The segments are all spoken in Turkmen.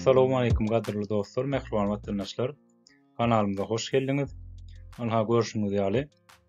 Assalamu alaykum gadyrly dostlar, mähriban watandaşlar. Kanalymyza hoş geldiňiz. Ana görşüňiz ýaly,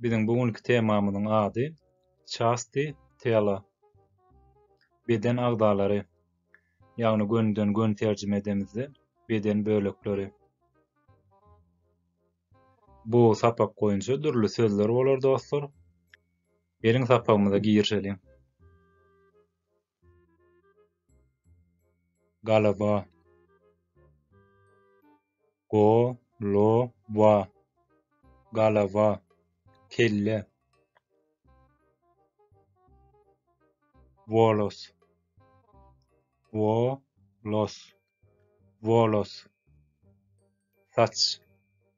Biziň bu günki temamyzyň ady Çasti tela. Beden agzalary. Ýagny gönden gön terjime edemizde beden bölekleri. Bu sapak boýunça dürli sözler bolar dostlar. Geliň sapagymyza girişeliň. Galaba. Go-lo-wa. Galaba. Kelle. Wolos. Wo-los. Wolos. Saç.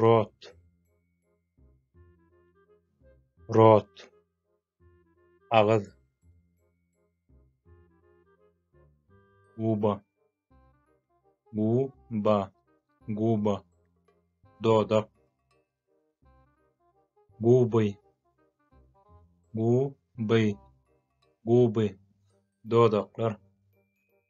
rot rot agyz guba guba guba dodak guby guby guby dodaklar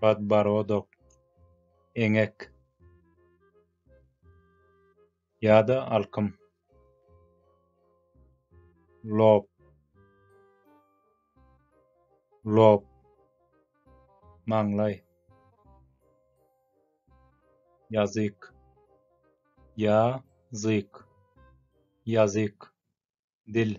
Podborodok, Eňek ýa-da Alkym, Lob, Lob, Maňlaý, Ýazyk, ýa zyk, Ýazyk, Dil.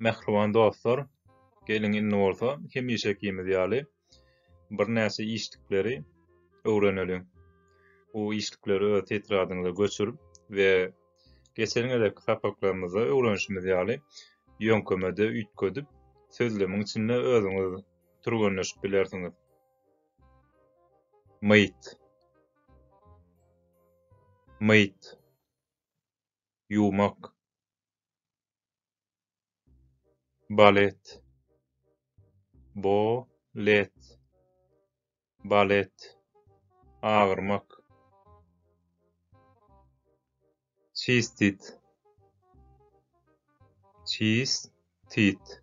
Mähriban dostlar, geliň indi bolsa hemişekimiz ýaly birnäçe işlikleri öwreneliň. Bu işlikleri öz tetradyňyza göçürip we geçen gezekki sapaklarymyzda öwrenişimiz ýaly ýöňkemede üýtgedip, sözlemiň içinde özüňiz türgenleşip bilersiňiz. Myt. Myt. ýumak, balet, bo-let, balet, agyrmak, çistit, çis-tit,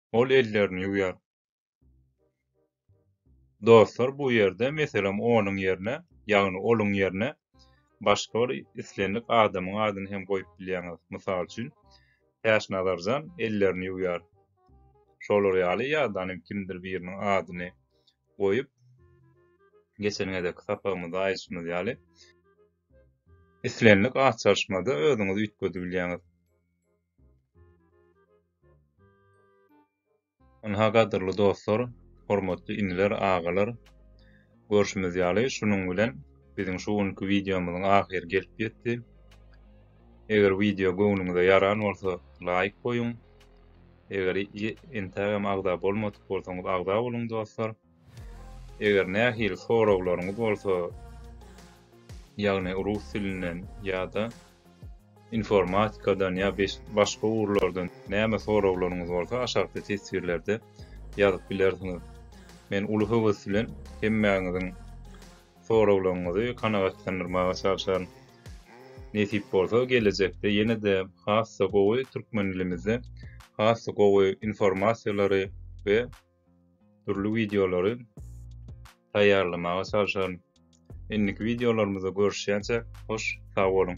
Ol ellerini ýuwýar. Dostlar bu ýerde meselem onuň ýerine, ýagny oluň ýerine başga bir islendik adamyň adyny hem goýup bilýäňiz. Mysal üçin, Täçnazarjan ellerini ýuwýar. Şolar ýaly ýa-da hem kimdir biriniň adyny goýup, geçen gezekki sapagymyzda aýdyşymyz ýaly, islendik at çalyşmada özüňizi üýtgedibilýäňiz. Ynha gadyrly dostlar, hormatly iniler, agalar, görşümiz ýaly şunuň bilen biziň şu günki wideomyzyň ahyry gelip ýetdi. Eger wideo göwnüňize ýaran bolsa laýk goýuň. Eger entägem agza bolmadyk bolsaňyz agza boluň dostlar. Eger nähili soraglaryňyz bolsa, ýagny rus dilinden ýa-da informatikadan ýa başga ugurlardan näme soraglaryňyz bolsa aşakda teswirlerde ýazyp bilersiňiz. Men uly höwes bilen hemmäňiziň soraglaryňyzy kanagatlandyrmaga çalşaryn. Nesip bolsa gelejekde ýene-de has-da gowy türkmen dilimizde has-da gowy informasiýalary we dürli wideolary taýýarlamaga çalşaryn. Indiki wideolarymyzda görüşýänçäk, hoş sag boluň!